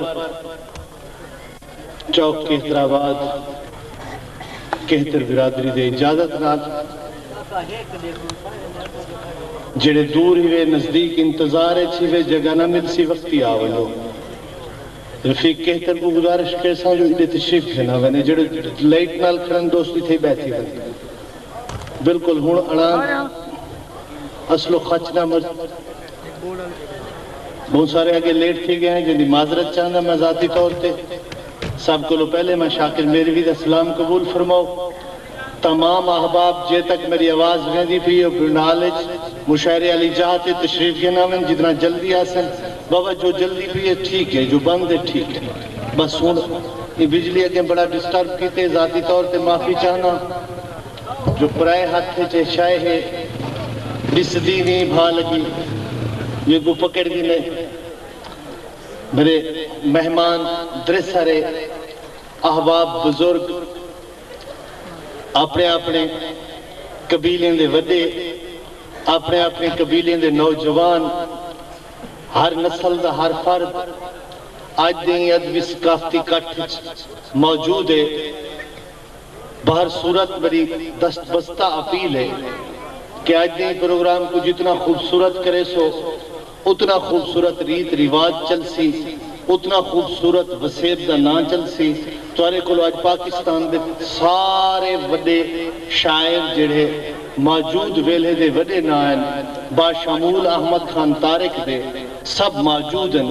سفر چوک کہترآباد کہتر برادری دے اجازت نال جیڑھے دور ہیوے نزدیک انتظار اچ ہیوے جگہ نہ ملسی وختی آ ونجو رفیق کہتر کوں گزارش کریساں جو ایڈے تشریف گھن آ ونے جیڑھے لائٹ نال کھڑن دوست اتھے بیٹھی ون بالکل ہن اڑان اصلو خچ نہ مر بہوں سارے اگے لیٹ تھی گئے ہیں جیندی معذرت چاہنداں میں ذاتی طور تے سب کولوں پہلے میں شاکر میروی دا سلام قبول فرماؤ تمام احباب جے تک میری آواز ویندی پئی ہے او بھنڈال اچ مشاعرے آلی جاہ تے تشریف گھن آون جتنا جلدی آسن بابا جو جلدی پئی ہے ٹھیک ہے جو بند ہے ٹھیک ہے بس ہن ایں بجلی اگیں بڑا ڈسٹرب کیتے ذاتی طور تے معافی چاہنداں۔ جو پرائے ہتھ اچ اے شئے ہے ڈسدی نیں بھا لگی یہ گوں پکڑدی نیں میرے مہمان درسرے احباب بزرگ اپنے اپنے قبیلیں دے وڈے اپنے اپنے قبیلیں دے نوجوان ہر نسل دا ہر فرد اج دے ایں ادبی ثقافتی کٹھ اچ موجود ہے۔ بہر صورت میڈی دست بستہ اپیل ہے کہ اج دیں پروگرام کوں جتنا خوبصورت کریسو اتنا خوبصورت ریت رواج چلسی اتنا خوبصورت وسیب دا ناں چلسی تہاڈے کولو اج پاکستان دے سارے وڈے شاعر جیڑھے ماجود ویلھے دے وڈے ناں ہن باشمول احمد خان طارق دے سب ماجود ہن۔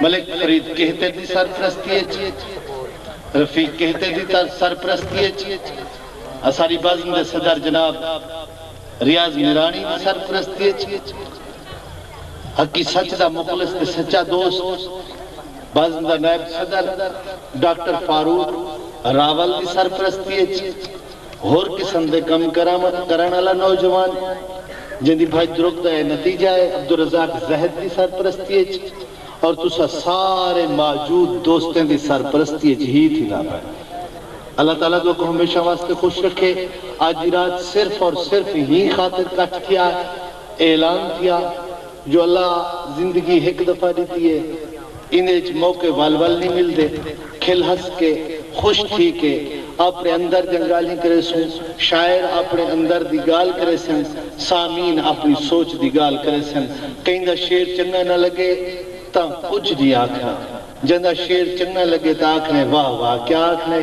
ملک فرید کہتے دی سرپرستی اچ، رفیق کہتے دی سرپرستی اچ، اساری بزم دے صدر جناب ریاض میرانی دی سرپرستی اچ، حقی سچ دا مخلص تے سچا دوست، بزم دا نائب صدر ڈاکٹر فاروق راول دی سرپرستی اچ، ہور قسم دے کم کرامت کرݨ آلا نوجوان جیندی بھڄ درک دا اے نتیجہ اے عبدالرزاق زہد دی سرپرستی اچ اور تساں سارے ماجود دوستیں دی سرپرستی اچ ہی تھیندا پئے اللہ تعالی تہاکوں ہمیشہ واسطے خوش رکھے اج دی رات صرف اور صرف ایں خاطر کٹھ تھیا اعلان تھیا جو اللہ زندگی ہک دفعہ ݙتی اے ایندے اچ موقع ول ول نی ملدے کھل ہس کے خوش تھی کے آپݨے اندر دیاں ڳالھیں کریسوں شاعر آپݨے اندر دی ڳالھ کریسن سامعین آپݨی سوچ دی ڳالھ کریسن کئیندا شعر چنڳا نہ لڳے تاں کجھ نی آکھݨا جیندا شعر چنڳا لڳے تاں آکھݨے واہ واہ کیا آکھݨے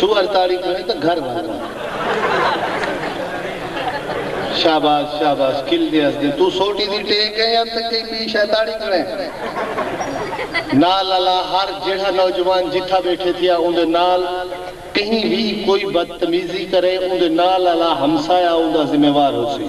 سوہر تاڑی کھڑیں تاں گھر بھر بھر شاباس شاباس کھل دے ہسدیں توں سوٹی دی ٹیک ایں یا تے کئی ٻی شے تاڑی کھڑیں نال الا ہر جیڑھا نوجوان جتھاں ٻیٹھے تھیا اوندے نال کہیں وی کوئی بدتمیزی کرے اوندے نال الا ہمسایہ اوندا ذمہ وار ہوسی۔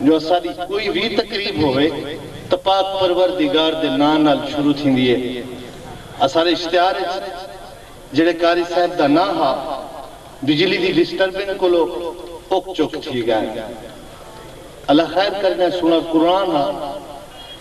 جو اساݙی کوئی وی تقریب ہووے تاں پاک پروردگار دے ناں نال شروع تھیندی ہے۔ اساݙے اشتہار اچ جیڑھے قاری صاحب دا ناں ہا، بجلی دی ڈسٹربنگ کولو اک چک تھی ڳئن۔ اللہ خیر کرڄاں سوہݨا قرآن ہا۔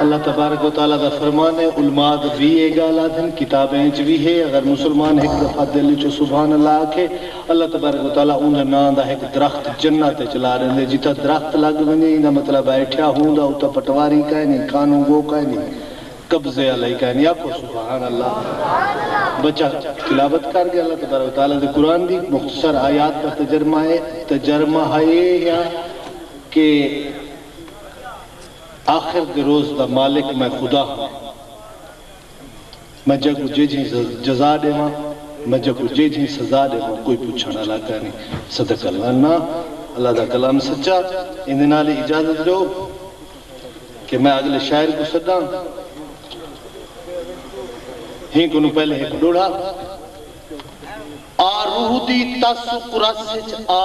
اللہ تبارک و تعالی دا فرمان ہے، علماء وی اے گالھ آدھن، کتابیں اچ وی ہے، اگر مسلمان ہک دفعہ دل اچوں سبحان اللہ آکھے، اللہ تبارک و تعالی اوندے ناں دا ہک درخت جنت اچ لا ڈیندے، جتھاں درخت لگ ونجے ایندا مطلب ہے ٹھیا ہوں دا اتھاں پٹواری کائنی، کانوں گو کائنی، قبضے آلا ہی کائنی، آکھو سبحان اللہ۔ بچہ تلاوت کر گیا، اللہ تبارک و تعالی دے قرآن دی مختصر آیات دا تجرمہ ہے، تجرمہ ہے یا کہ آخر دے روز دا مالک میں خدا ہاں۔ میں جیکوں جیجھیں جزا ڈیواں، میں جیکوں جیجھیں سزا ڈیواں کوئی پچھݨ آلا کائنی۔ صدق اللہ نہ اللہ دا کلام سچا ایندے نال ہی اجازت ڈیو کہ میں اگلے شاعر کوں سڈاں۔ ہیں کنوں پہلے ہک ڈوڑھا آ روح دی تس و کرس اچ آ۔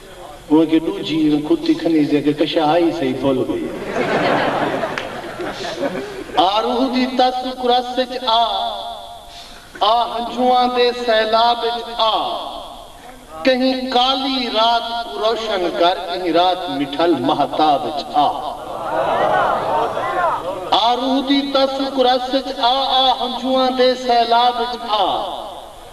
اوں اگے ڈوجھی اوں کھتی کھنیس دے اگے کشا آئی سئی بھل گئی ہے۔ آروہ دی تس کرس اچ آ آ ہنجواں دے سیلاب اچ آ کہیں کالی رات کوں روشن کر کہیں رات مٹھل مہتاب اچ آ۔ آروہ دی تس کرس اچ آ آ ہنجواں دے سیلاب اچ آ۔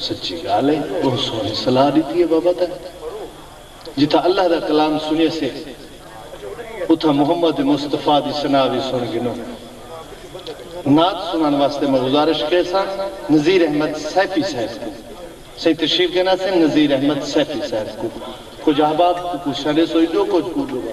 سچی گالھ اے بہت سوہنی صلاح ڈتی اے بابا تیں جتھاں اللہ دا کلام سنیے سے اتھاں محمد مصطفی دی ثنا وی سن گھنوں نعت سنن واسطے میں گزارش کے ساں نذیر احمد سیفی صاحب کوں سائیں تشریف گھنا سن نذیر احمد سیفی صاحب کوں کچھ احباب کوں پوچھاں ڈیسو ایڈو کچھ کوں ڈوبا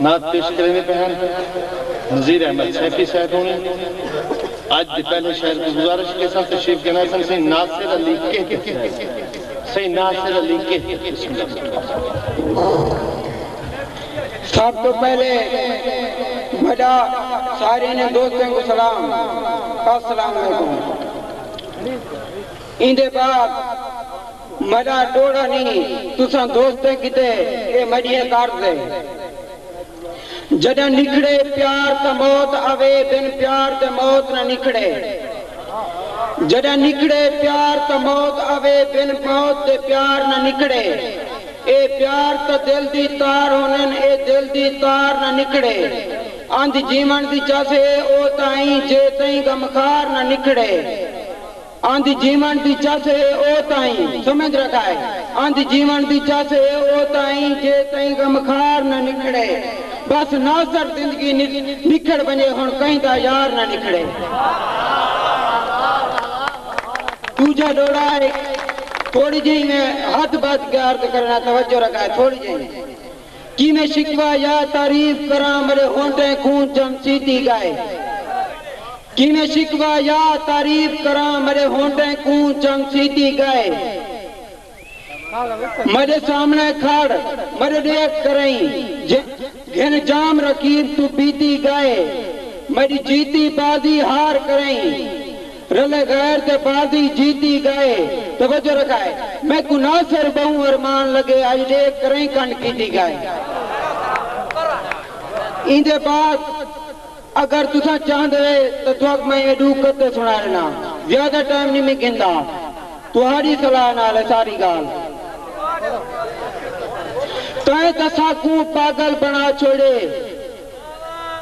نعت پیش کریندے پئے ہن نذیر احمد سیفی صاحب ہونی اج دے پہلے شعر کوں گزارش کیساں تشریف گھن آسن سئیں ناصر علی کہہ تے صاحب سئیں ناصر علی کہہ بسم اللہ الرحمن سب توں پہلے وڈا سارے نے دوستیں کوں سلام السلام علیکم ایندے بعد میݙا ݙوہڑا نھیں تساں دوستیں کیتے اے میݙیاں قرض اے جݙاں نکھڑے پیار تاں موت آوے بن پیار دے موت نہ نکھڑے جݙاں نکھڑے پیار تاں موت آوے بن موت دے پیار نہ نکھڑے اے پیار تاں دل دی تار ہوندن اے دل دی تار نہ نکھڑے انج جیوݨ دی چس اے او تائیں جے تئیں غمخار نہ نکھڑے۔ آندی جیوݨ دی چس اے او تائیں، سمجھ رکھا اے، آندی جیوݨ دی چس اے او تائیں جے تئیں غمخار نہ نکھڑے۔ بس ناصر زندگی نکھڑ ونڄے ہݨ کہیں دا یار نہ نکھڑے۔ ݙوجھا ݙوہڑا اے، تھوڑی جئیں میں ہتھ ٻدھ کے عرض کرݨا توجہ رکھا اے، تھوڑی جئیں۔ کیویں شکوہ یا تعریف کراں ملے ہونٹیں کوں جم چیتی گائے کیویں شکوہ یا تعریف کراں ملے ہونٹیں کوں جم چیتی گائے ملے سامنڑے کھڑ ملے ڈیکھ کرئیں گھن جام رقیب توں پیتی گائے ملی جیتی بازی ہار کرئیں۔ رلے غیر تے بازی جیتی گئے توجہ رکھائے میکوں ناصر بہوں ارمان لگے اج ڈیکھ کریں کنڈ کیتی گئے ایندے بعد اگر تساں چاہندے تاں تہاک میں اے ڈو قطعے سنا ڈینا زیادہ ٹائم نی میں گھندا تہاڈی صلاح نال اے ساری گال تائیں تساکوں پاگل بنا چھوڑے۔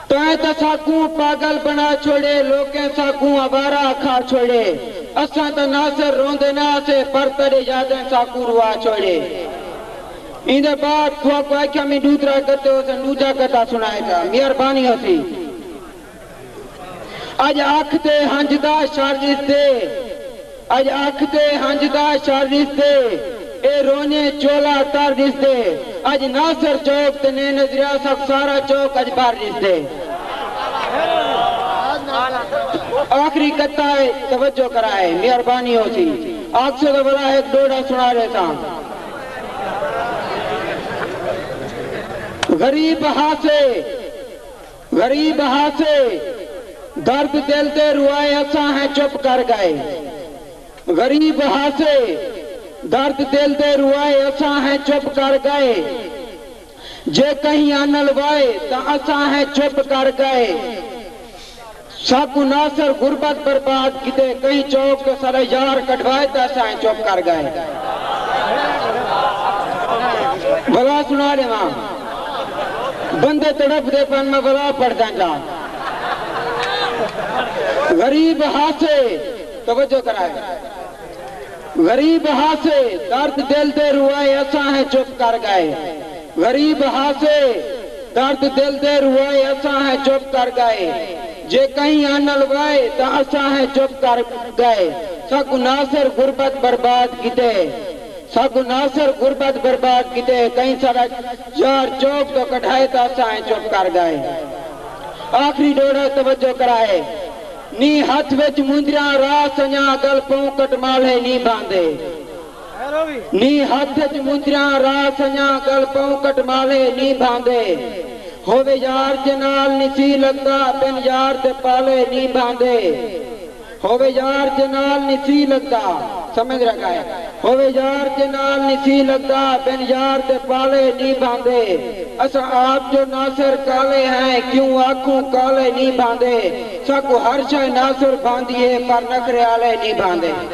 تیں تاں ساکوں پاگل بنا چھوڑے لوکیں ساکوں آوارہ اکھا چھوڑے اساں تاں ناصر روندے نہ آسے پر تیڈے یادیں ساکوں روا چھوڑے ایندے بعد تھواکوں آکھیا میں ڈوترا گتے ہوسن ڈوجا گتا سنائے جا میہربانی ہوسی اج اکھ تے ہنجدا شر اس دے۔ اڄ اکھ دے ہنج دا شر ݙسدے اے رونے چولا تر ݙسدے اڄ ناصر چوک تے نیں نظریا سک سارا چوک اڄ بھر ݙسدے۔ آخری قطعہ ہے توجہ کرائیں مہربانی ہوسی آکھسو تاں ولا ہک ݙوہڑا سݨا ݙیساں۔ غریب ہاسے۔ غریب ہاسے درد دل دے روائے اساں ہیں چپ کر گئے غریب ہاسے درد دل دے روائے اساں ہیں چپ کر گئے جے کہیں آنل وائے تاں اساں ہیں چپ کر گئے۔ ساکوں ناصر غربت برباد کیتے کہیں چوک تے ساڈا یار کڈھوائے تے اساں ائیں چپ کر گئے۔ ولا سنا ڈیواں۔ بندے تڑپ دے پن میں ولا پڑھداں جا۔ غریب ہاسے توجہ کرائے۔ غریب ہاسے درد دل دے روائے اساں ائیں چپ کر گئے۔ غریب ہاسے درد دل دے روائے اساں ہیں چپ کر گئے جے کہیں آنل وائے تاں اساں ہیں چپ کر گئے ساکوں ناصر غربت برباد کیتے ساکوں ناصر غربت برباد کیتے کہیں ساڈا یار چوک توں کڈھائے تاں اساں ہیں چپ کر گئے آخری ڈوڑھا توجہ کرائے نی ہتھ وچ مندریاں راہ سنجاں گل پوں کٹمالھے نی بھاندے۔ نی ہتھ اچ مجریاں را سنڄاں ڳل پوں کٹماوے نی بھاندے ہووے یار جے نال نی سی لڳدا بن یار دے پالے نی بھاندے ہووے یار جے نال نی سی لڳدا سمجھ رہ ڳئے ہووے یار جے نال نی سی لڳدا بن یار دے پالے نی بھاندے اساں آپ جو ناصر کالے ہیں کیوں آکھوں کالے نی بھاندے ساکوں ہر شے ناصر بھاندی ہے پر نخرے آلے نی بھاندے۔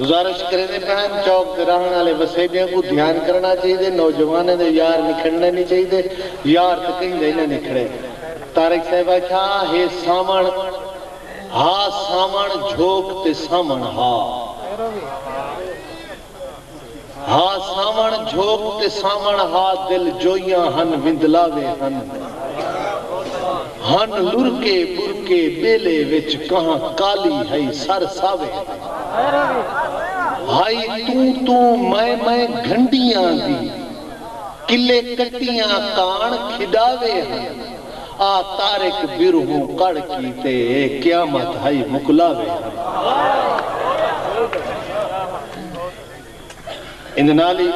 گزارش کریندے پئے ہن، چوک تے رہݨ آلے وسیبیاں کوں دھیان کرݨا چاہیدے، نوجوانیں دے یار نکھڑݨے نی چاہیدے، یار تے کہیں دے نہ نکھڑے۔ طارق صاحب آکھیا ہے ساوݨ ہا ساوݨ جھوک تے ساوݨ ہا۔ ہا ساوݨ جھوک تے ساوݨ ہا دل جوئیاں ہن وندلاوے ہن ہن لرکے ٻرکے ٻیلے وچ کہاں کالی ہئی سر ساوے ہن ہائی توں توں میں میں گھنڈیاں دی کلے کٹیاں کاݨ کھݙاوے ہن آ طارق بیرہوں کڑھ کیتے اے قیامت ہئی مکلاوے ہن۔ ایندے نال ہی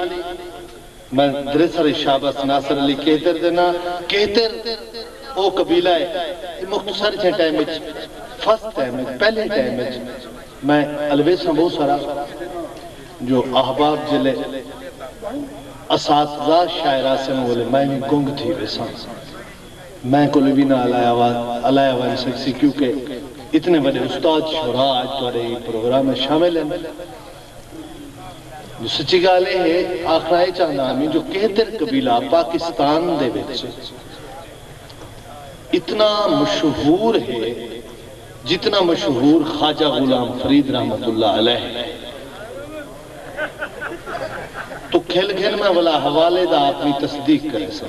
میں دریسر شابس ناصر علی کہتر دے ناں کہتر او قبیلہ ہے کہ مختصر جھے ٹائم اچ فرسٹ ٹائم اچ پہلے ٹائم اچ میں الویساں بہوں سارا جو احباب جلے اساتذہ شاعراسن اولے میں وی گنگ تھی ویساں۔ میں کولے وی نہ الایا ونج سگسی کیوں کہ اتنے وڈے استاد شعراء اج تہاڈے ایں پروگرام اچ شامل ہن۔ جو سچی گالھ اے ہے آکھنا اے چاہندا ہاں میں جو کہتر قبیلہ پاکستان دے وچ اتنا مشہور ہے جتنا مشہور خواجہ غلام فرید رحمت اللہ علیہ ہے۔ توں کھل گھن میں ولا حوالے دا اپنی تصدیق کریساں۔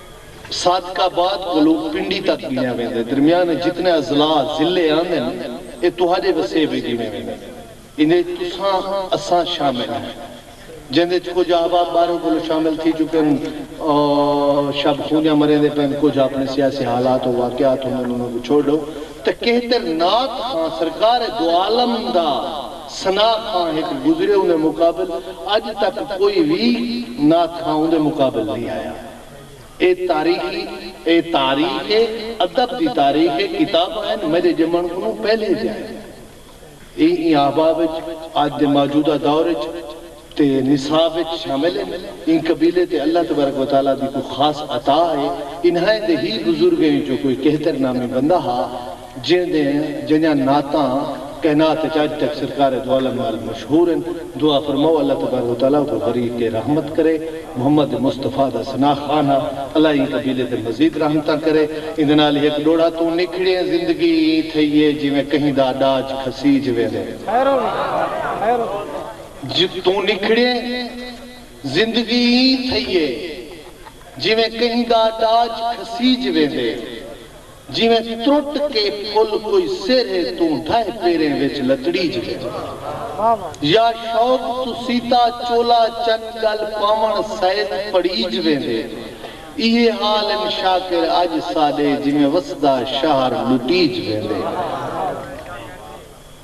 صادق آباد کولوں پنڈی تک گھنڑیا ویندے۔ درمیان وچ جتنے اضلاع، ضلعے، آندن اے تہاڈے وسیب وچ گھنڑے ویندن۔ ایندے وچ تساں اساں شامل ہیں۔ جیندے وچ کجھ احباب باہروں کولوں شامل تھی چکن او شب خونیاں مریندے پئن کجھ اپنے سیاسی حالات و واقعات ہوندن انہاں کوں چھوڑ ڈو تاں کہتر نعت خواں سرکار دوعالم دا ثناء خواں ہک گزرے اوندے مقابل اج تک کوئی وی نعت خواں اوندے مقابل نی آیا۔ اے تاریخی اے تاریخ اے ادب دی تاریخ اے کتاباں ہن میڈے جمن کنوں پہلے دیاں ہن اے ایں احباب اچ اج دے موجودہ دور اچ تے نصاب اچ شامل ہن ایں قبیلے تے اللہ تبارک و تعالی دی کوئی خاص عطا اے انہائیں دے ہی بزرگیں وچوں کوئی کہتر نامی بندہ ہا جیں دیں جنیاں نعتاں کہنات اچ اج تک سرکار دوعالم نال مشہور ہن۔ دعا فرماؤ اللہ تبارک و تعالی اوکوں غریق رحمت کرے۔ محمد مصطفی دا ثناء خوان ہا۔ اللہ ایں قبیلے تے مزید رحمتاں کرے۔ ایندے نال ہک ڈوڑھا توں نکھڑیں زندگی ایں تھئی اے جیویں کہیں دا ڈاج کھسیج ویندے۔ توں نکھڑیں زندگی ایں تھئی اے جیویں کہیں دا ڈاج کھسیج ویندے۔ جیویں ترٹ کے پھل کوئی سیرھے توں ڈھہہ پیریں وچ لتڑیج ویجے۔ یا شوق توں سیتا چولا چن گل پاوݨ سئیت پڑیج ویندے۔ ایہے حال ان شاکر اڄ ساݙے جیویں وسدا شہر لٹیج ویندے۔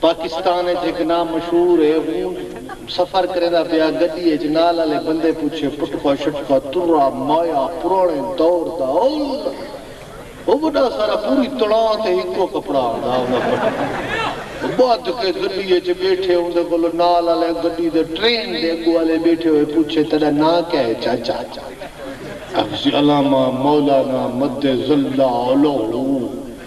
پاکستان اچ ہک ناں مشہور اے ہوں سفر کریندا پیا گڈی اچ نال آلے بندے پچھے پٹکا شٹکا ترا مایا پرانے دور دا او وڈا سارا پوری تڑاں تے ہکو کپڑا ہوندا ہوندا پٹکا بدھ کے گڈی اچ بیٹھے ہوندے کولو نال آلے گڈی دے ٹرین دے اگو آلے بیٹھے ہوئے پچھے تیڈا ناں کیا اے چاچا حفظ علامہ مولانا مد ظلہ الہو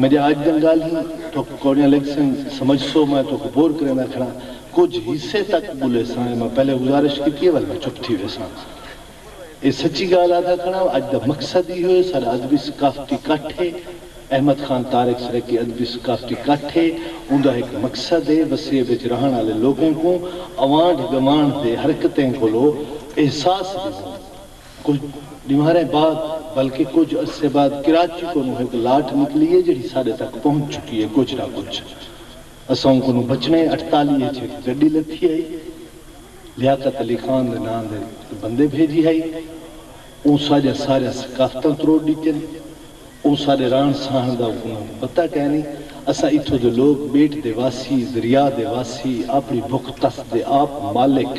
میڈے آج دیاں گالھیں تہاکوں کوڑیاں لگسن، سمجھسو میں تہاکوں بور کریندا کھڑاں، کجھ حصے تک ٻولیساں اے میں پہلے گزارش کیتی اے ول میں چپ تھی ویساں۔ اے سچی گالھ آہدا کھڑاں اج دا مقصد ایہو اے ساڈا ادبی ثقافتی کٹھ اے، احمد خان طارق سرائیکی ادبی ثقافتی کٹھ اے، اوندا ہک مقصد اے وسیب اچ رہݨ آلے لوکاں کوں اوانڈھ گوانڈھ دے حرکتیں کولو احساس ݙیوݨ، کجھ ڈینہاریں بعد بلکہ کجھ عرصے بعد کراچی کنوں ہک لاٹ نکلی ہے جیڑھی ساڈے تک پہنچ چکی ہے کجھ نہ کجھ اساؤں کنوں بچنے اٹھتالیہ اچ ہک گڈی لتھی ہئی لیاقت علی خان دے ناں دے تے بندے بھیجی ہئی اوں ساڈیاں ساریاں ثقافتاں تروڑ ڈتین اوں ساڈے رہن سہن دا کنوں پتہ کینی اساں اتھوں دے لوک بیٹ دے واسی دریا دے واسی اپنی بھک تس دے آپ مالک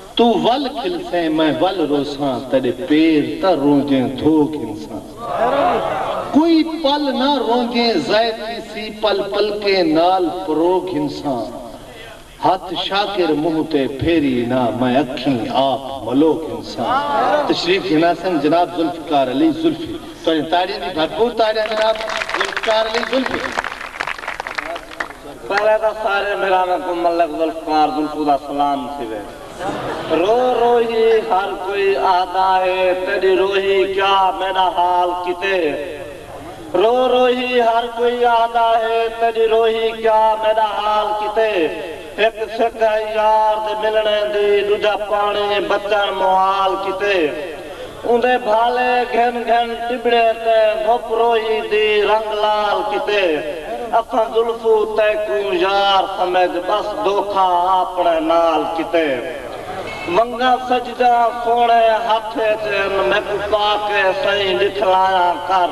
توں ول کھلسیں میں ول روساں تیڈے پیر تاں رونجیں دھو گھنساں کوئی پل نہ رونجیں ضائع تھیسی پل پلکیں نال پرو گھنساں ہتھ شاکر منہ تے پھیری نہ میں اکھیں آپ ملو گھنساں۔ تشریف گھناسن جناب ذوالفقار علی ذوالفی تہاڈیاں تاڑیاں دی بھرپور تاڑیاں جناب ذوالفقار علی ذوالفی۔ پہلے تاں سارے بھراواں کوں ملک ذوالفقار بھٹو دا سلام تھیوے۔ رو روہی ہر کوئی آہدا ہے تیڈی روہی کیا میڈا حال کیتے۔ رو روہی ہر کوئی آہدا ہے تیڈی روہی کیا میڈا حال کیتے۔ ہک سکھ ہے یار دے ملݨے دی ݙوجھا پاݨی بچݨ موال کیتے اوندے بھالے گھن گھن ٹٻڑے تے دھپ روہی دی رنگ لال کیتے اساں زلفو تیکوں یار سمجھ ٻس دھوکھا آپݨے نال کیتے ونگاں سجداں سوہݨے ہتھ اچ ہن میکوں پا کے سئیں ݙکھلایاں کر۔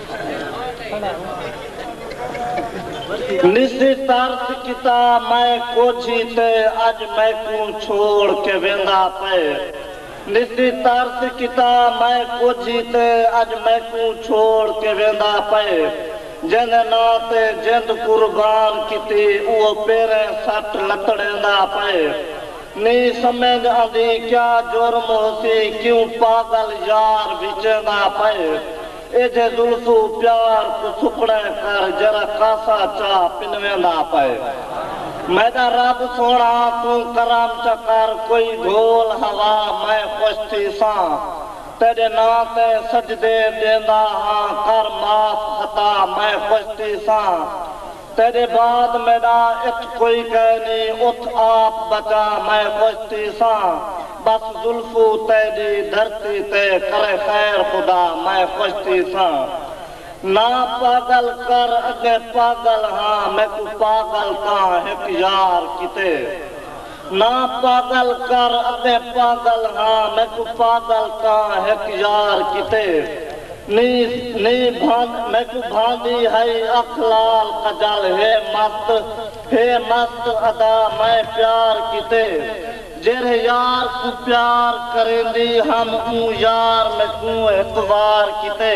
نسی ترس کیتا میں کوجھی تے اج میکوں چھوڑ کے ویندا پئے نسی ترس کیتا میں کوجھی تے اج میکوں چھوڑ کے ویندا پئے جیندے ناں تے جند قربان کیتی اوہو پیریں سٹ لتڑیندا پئے نی سمجھ آندی کیا جرم ہوسی کیوں پاگل یار وچیندا پئے۔ ایجھے زلفو پیار کوں سکڑے کر جرا کاسا چاہ پنویندا پئے میڈا رب سوہنڑا توں کرم چا کر کوئی گھول ہوا میں خوش تھیساں تیڈے ناں تے سجدے ڈیندا ہاں کر معاف خطا میں خوش تھیساں۔ تیݙے بعد میݙا اتھ کوئی کائے نی اتھ آپ بچا میں خوشتی ساں بس زلفو تیݙی دھرتی تے کرے خیر خدا میں خوشتی ساں نا پاڳل کر اڳیں پاڳل ہاں میکوں پاڳل تاں ہک یار کیتے نہ پاگل کر اتے پاگل ہاں میکوں پاگل تاں ہک یار کیتے نی نی بھاند میکوں بھاندی ہئی اکھ لال کجل ہے مست ہے مست ادا میں پیار کیتے جیرھے یار کوں پیار کریندی ہم اوں یار میکوں ہک وار کیتے۔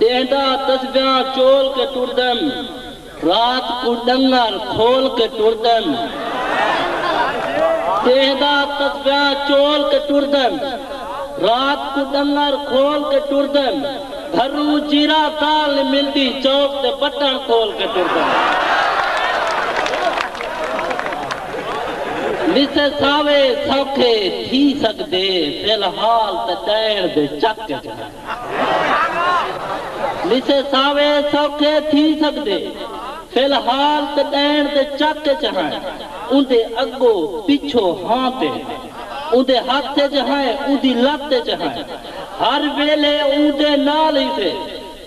ݙینہہ دا تسبیحاں چول کے ٹردن رات کوں ݙنگر کھول کے ٹردن ݙینہہ دا تسبیحاں چول کے ٹردن رات کوں ݙنگر کھول کے ٹردن بھرو جیرا دال نی ملدی چوک تے بٹن کھول کے ٹردن وسے ساوے سوکھے تھی سڳدے فی الحال تاں ݙیݨ دے چک اچ ہن۔ لیسے ساوے سوکھے تھی سگدے فی الحال تے ڈین دے چک اچ ہائیں اوندے اگو پچھو ہاں تے اوندے ہتھ اچ ہائیں اوندی لت اچ ہائیں ہر ویلے اوندے نال ہیسے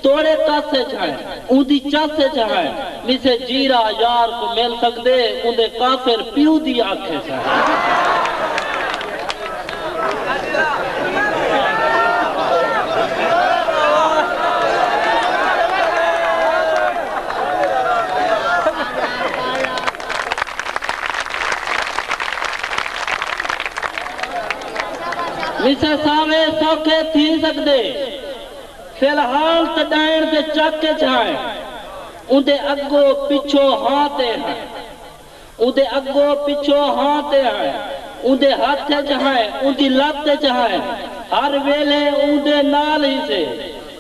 توڑے کس اچ ہائیں اوندی چس اچ ہائیں میسے جیرا یار کوں مل سگدے اوندے کافر پیو دی اکھ اچ ہائیں۔ وسے ساوے سوکھے تھی سگدے فی الحال تے ڈائنڑ دے چک اچ ہائیں اوندے اگو پچھو ہاں تے ہائیں۔ اوندے اڳو پچھو ہاں تے ہائیں، اوندے ہتھ اچ ہائیں، اوندی لت اچ ہائیں، ہر ویلھے اوندے نال ہیسے،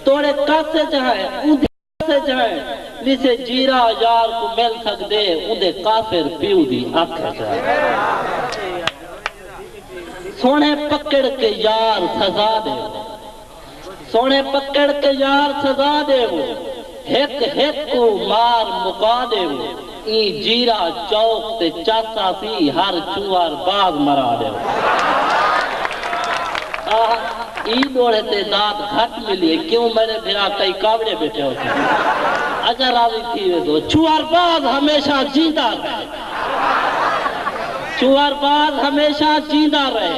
توڑے کس اچ ہائیں، اوندی کس اچ ہائیں، لیسے جیرھا یار کوں مل سڳدے، اوندے کافر پیو دی اکھ اچ ہائیں۔ سوہݨے پکڑ کے یار سزا ݙیوو۔ سوہݨے پکڑ تے یار سزا ݙیوو ہک ہک کوں مار مکا ݙیوو ایں جیرھا چوک تے چس آسی ہر چھوہر باز مرا ݙیوو آہا ایں ݙوہڑے تے داد گھٹ ملی ہے کیوں میݙے بھرا کئی کاوڑے ٻیٹھے ہوسن اچا راضی تھی ویسو چھوہر باز ہمیشہ جیندا رہے چھوہر باز ہمیشہ جیندا رہے۔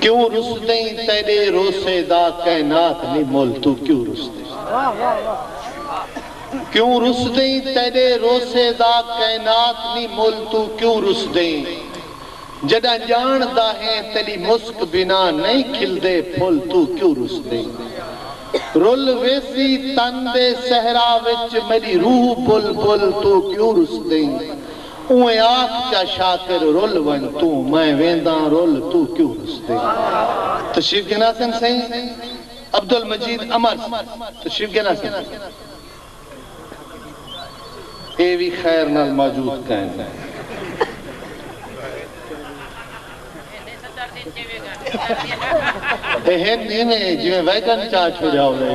کیوں رستیں تیڈے روسے دا کائنات نی مل توں کیوں رستیں کیوں رستیں تیڈے روسے دا کائنات نی مل توں کیوں رستیں جڈاں جان داہیں تیڈی مسک بنا نئیں کھلدے پھل توں کیوں رستیں رل ویسی تن دے صحرا وچ میڈی روح بل بل توں کیوں رستیں اونویں آکھ چا شاکر رل ونج توں میں وینداں رل توں کیوں رسدے تشریف گھنا سن سئیں عبدالمجید امر تشریف گھنا سن اے وی خیر نال موجود کائن اے ہن ایویں جیویں ویگن چا چھوڑیا ہووے۔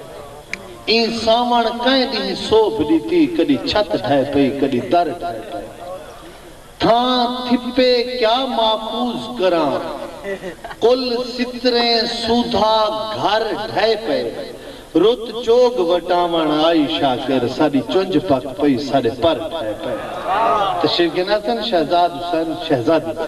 ایں ساوݨ کئیں ݙینہہ سوبھ ݙتی کݙی چھت ڈھہہ پئی کݙی در ڈھہہ پئے تھاں تھپے کیا محفوظ کراں کل ستریں سودھا گھر ڈھہہ پئے رت چوگ وٹاوݨ آئی شاکر ساݙی چنجھ پک پئی ساݙے پر ڈھہہ پئے تشریف گن آسن شہزاد حسین شہزادی دے۔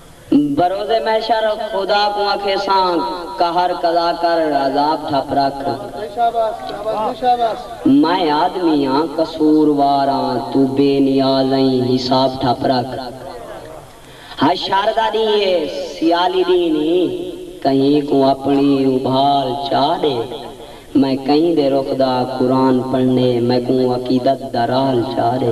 بروز محشر خدا کوں آکھیساں قہر قضا کر عذاب ٹھپ رکھ۔ میں آدمی آں قصور وار آں توں بے نیاز ائیں حساب ٹھپ رکھ۔ حشر دا ڈینہہ ہے سیالی ڈینہہ نی کہیں کوں اپنڑی ابھال چاہ ڈے میں کہیں دے رخ دا قرآن پڑھنڑے میکوں عقیدت دا راہل چاہ ڈے۔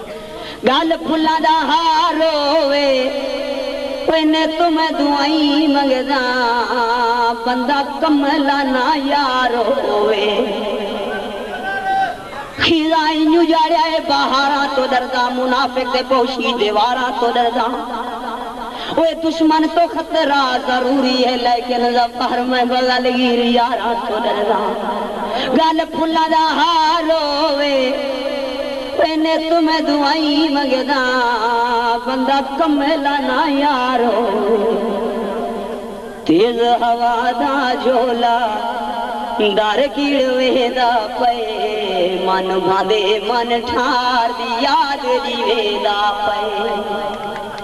گالھ پھلاں دا ہار ہووے پہنے توں میں دعائیں منگداں بندہ کملا نہ یار ہووے خزاں ایں اجاڑیا اے بہاراں توں ڈرداں منافق تے پوشی دیواراں توں ڈرداں۔ اوئے دشمن توں خطرہ ضروری ہے لیکن ظفر میں بغلغیر یاراں توں ڈرداں گل پھلاں دا ہار ہووے اینے توں میں دعائیں منگداں بندہ کمیلا نہ یار ہووے تیز ہوا دا جھولا ڈر کیڑ ویندا پئے من بھاندے من ٹھار دی یاد جی ویندا پئے۔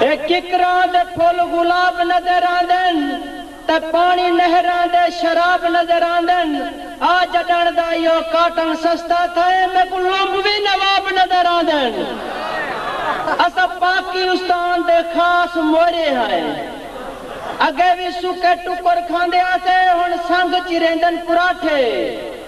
اے ککراں دے پھل گلاب نظر آندن تے پاݨی نہراں دے شراب نظر آندن آ جݙݨ دا ایہو کاٹن سستا تھا اے میکوں لومبوی نواب نظر آندن اساں پاکی استان دے خاص مورے ہائیں اگے وی سکے ٹکر کھاندے ہاسے ہݨ سنگ چریندن پراٹھے۔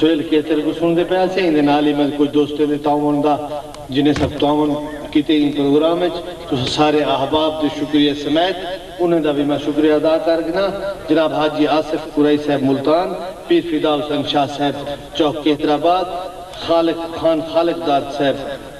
سہیل کیچر کوں سݨدے پئے ہاسے ایندے نال ای میڈے کجھ دوستیں دے تعاون دا جنہیں سب تعاون کیتے ایں پروگرام اچ تساں سارے احباب دے شکریہ سمیت انہیں دا وی میں شکریہ ادا کر گھناں جناب حاجی آصف قرئی صاحب ملتان پیر فدا حسین شاہ صاحب چوک کیتر آباد خالق خان خالق داد صاحب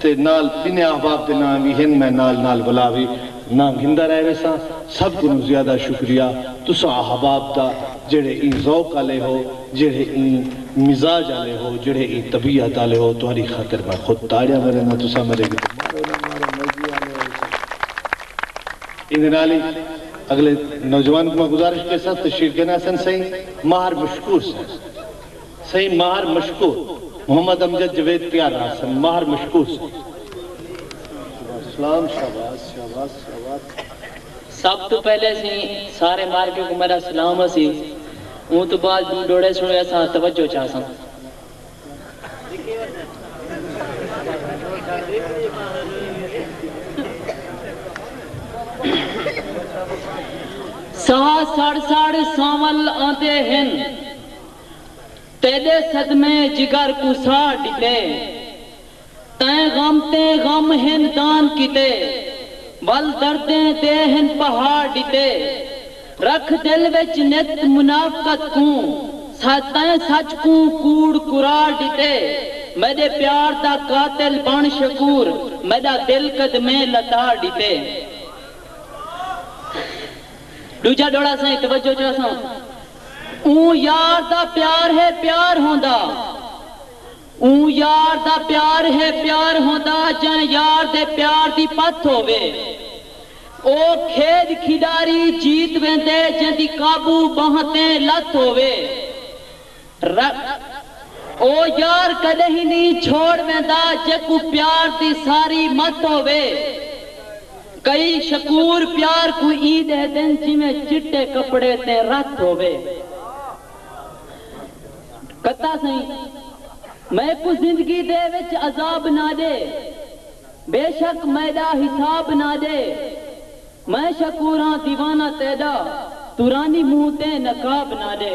تے نال ٻنھے احباب دے ناں وی ہن میں نال نال ولا وی ناں گھندا رہ ویساں سب کنوں زیادہ شکریہ تساں احباب دا جیڑھے ایں ذوق آلے ہو جیڑھے ایں مزاج آلے ہو جیڑھے ایں طبیعت آلے ہو تہاڈی خاطر میں خود تاڑیاں ورینداں تساں میڈے کیتے مارو نہ مارو مرضی آلے ہو سو۔ ایندے نال ای اگلے نوجوان کوں میں گزارش کیساں تشریف گھن آسن سئیں ماہر مشکور سئیں۔ سئیں ماہر مشکور محمد امجد جوید پیار راج سن ماہر مشکور سائیں۔ سب توں پہلے سئیں سارے مارکے کوں میڈا سلام ہسی اوں توں بعد ڈو ڈوڑے سنڑے اساں توجہ چا ساں۔ ساہ سڑ سڑ سانول آندے ہن۔ تیݙے صدمے جگر کوں ساڑ ݙتے تیں غم تے غم ہن دان کیتے ول دردیں دے ہن پہاڑ ݙتے رکھ دل وچ نت منافقت کوں سہہ تیں سچ کوں کوڑ کراڑ ݙتے میݙے پیار دا قاتل بݨ شکور میݙا دل قدمیں لتاڑ ݙتے۔ ݙوجھا ݙوہڑا سائیں توجہ چا ساں۔ اوں یار دا پیار ہے پیار ہوندا اوں یار دا پیار ہے پیار ہوندا جئیں یار دے پیار دی پتھ ہووے او کھیݙ کھیݙاری جیت ویندے جیندی قابو ٻانہہ تیں لتھ ہووے ر او یار کݙہیں نی چھوڑ ویندا جیکوں پیار دی ساری متھ ہووے۔ کئی شکور پیار کوں ایں ڈہدن جیویں چٹے کپڑے تیں رت ہووے۔ کتا سئیں میکوں زندگی دے وچ عذاب نہ ڈے۔ بیشک میڈا حساب نہ ڈے۔ میں شکور ہاں دیوانہ تیڈا تورانی منہ تیں نقاب نہ ڈے۔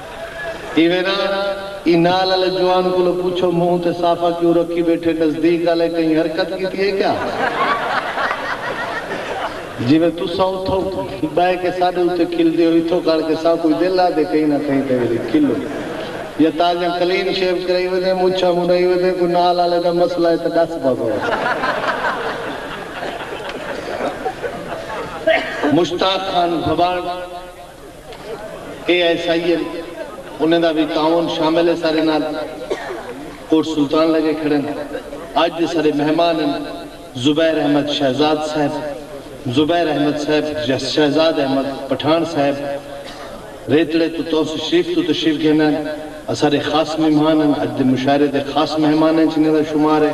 ایویں ناں ای نال آلے جوان کولو پچھو منہ تے صافہ کیوں رکھی بیٹھے نزدیک آلے کہیں حرکت کیتی ہے کیا جیویں تساں اتھو بہہ کے ساڈے اتے کھلدے ہو اتھو کھڑ کے ساکوں ہی دل آہدے کہیں نہ کہیں تے ویلے کھلو یا تازیاں کلین شیو کرائی ودیں مچھاں منڈائی ودیں کوئی نال آلے دا مسئلہ ہے تے ڈس بھگو۔ مشتاق خان بھبانڑ۔ اے ایس آئی اے انہیں دا وی تعاون شامل اے سارے نال پورٹ سلطان لگے کھڑن اج دے سارے مہمان ہن زبیر احمد شہزاد صاحب زبیر احمد صاحب شہزاد احمد پٹھان صاحب ریتڑے توں تونس شریف توں تشریف گھن آئن اسارے خاص مہمان ہن اج دے مشاعرے دے خاص مہماناں اچ انہیں دا شمار اے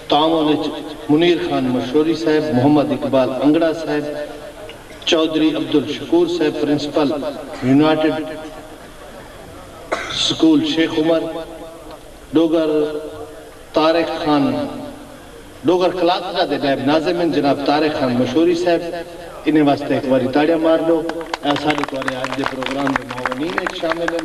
تعاون اچ منیر خان مشوری صاحب محمد اقبال انگڑا صاحب چوہدری عبدالشکور صاحب principal United School Sheikh Umar Dogar, Tariq Khan Dogar class دا دے نائب ناظم ہن جناب طارق خان مشوری صاحب انہیں واسطے ہک واری تاڑیاں مار ڈو۔ اے اساڈے توارے اج دے پروگرام دے معاونین اچ شامل ہن۔